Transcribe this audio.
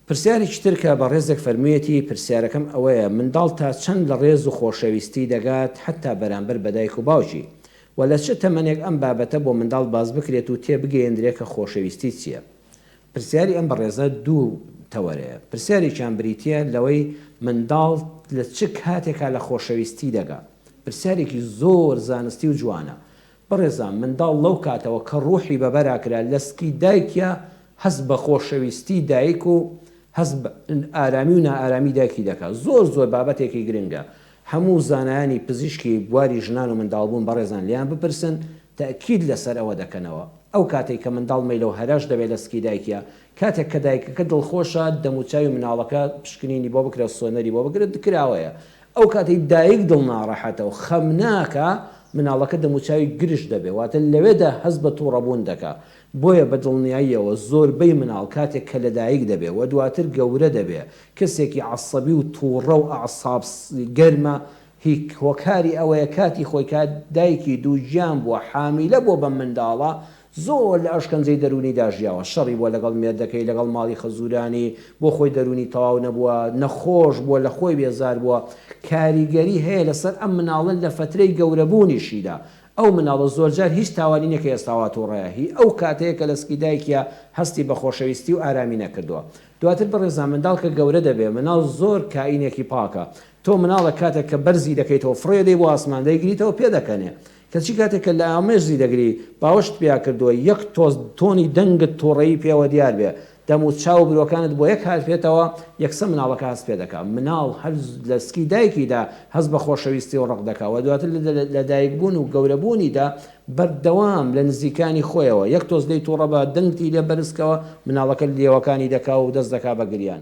پرسیارێکی تر کە بەڕێزێک فەرموویەتی، پرسیارەکەم ئەوەیە منداڵ تا چەند لە ڕێز و خۆشەویستی دەگات حەتتا بەرامبەر بە دایک و باوکی؟ وە لە چ تەمەنێک ئەم بابەتە بۆ منداڵ باس بکرێت و تێبگەیەندرێ کە خۆشەویستی چیە؟ پرسیاری ئەم بەڕێزە دوو تەوەرەیە، پرسیارێکیان بریتیە لەوەی منداڵ لە چ کاتێکا لە خۆشەویستی دەگا؟ پرسیارێکی زۆر زانستی و جوانە بەڕێزان منداڵ لەو کاتەوە کە ڕوحی بە بەراکرا لە سکی دایکیا هەست بە خۆشەویستی دایک و هەست بە ئارامی و نائارامی دایکی دەکا زۆر زۆر بابەتێکی گرنگە هەموو زانایانی پزیشکی بواری ژنان و منداڵبوون بەڕێزان لێیان بپرسن تەئکید لەسەر ئەوە دەکەنەوە ئەو کاتەی کە منداڵ مەیلە و هەرەش دەبێ لە سکی دایکیا کاتێک کە دایکەکە دڵخۆشە دەموچاوی مناڵەکە پشکنینی بۆ بکرێ سۆنەری بۆ بکرێ کراوەیە ئەو کاتەی دایک دڵناڕەحەتە و خەمناکە، مناڵەکە دەموچاوی گرژ دەبێت، واتە لەوێدا هەست بە توڕەبوون دەکا. بۆیە بە دڵنیاییەوە زۆربەی مناڵ کاتێک کە لەدایک دەبێت و دواتر گەورە دەبێت، کەسێکی عەسەبی و توڕە و ئەعساب گەرمە، هی هۆکاری ئەوەیە کاتی خۆی کە دایکی دووگیان بووە حامیلە بۆ بەم منداڵە، زۆر لە ئەشکەنجەی دەروونیدا ژیاوە، شەڕی بووە لەگەڵ مێردەکەی، لەگەڵ ماڵی خەزوورانی، بۆ خۆی دەروونی تەواو نەبووە، نەخۆش بووە، لە خۆی بێزار بووە. کاریگەری هەیە لەسەر ئەم مناڵە لە فەترەی گەورەبوونیشیدا. ئەو مناڵە زۆرجار هیچ تاوانی نییە کە ئێستا وا تووڕەیە. هی ئەو کاتەیە کە لە سکی دایکیا هەستی بە خۆشەویستی و ئارامی نەکردووە. دواتر بەڕێزان منداڵ کە گەورە دەبێ، مناڵ زۆر کائینێکی پاکە. تۆ مناڵە کاتێک کە بەرزی دەکەیتەوە، فڕێ دەی بۆ ئاسمان، دەیگریتەوە پێدەکەنێ. کەچی کاتێک کە لامێزی دەگری باوەشت پیا کردووە یەک تۆز تۆنی دەنگت توڕەیی پێوە دیار بێ دەم و چاو و برۆکانت بۆ یەک هاتبێتەوە یەکسە مناڵەکە هەست پێ دەکا مناڵ هەر لە سکی دایکیدا هەست بە خۆشەویستی و ڕق دەکا وە دواتر لە دایک بوون و گەورە بوونیدا بەردەوام لە نزیکانی خۆیەوە یەک تۆز لێی توڕە بە دەنگتی لێ بەرز کەوە مناڵەکە لێوەکانی دەکا و دەست دەکا بە گریان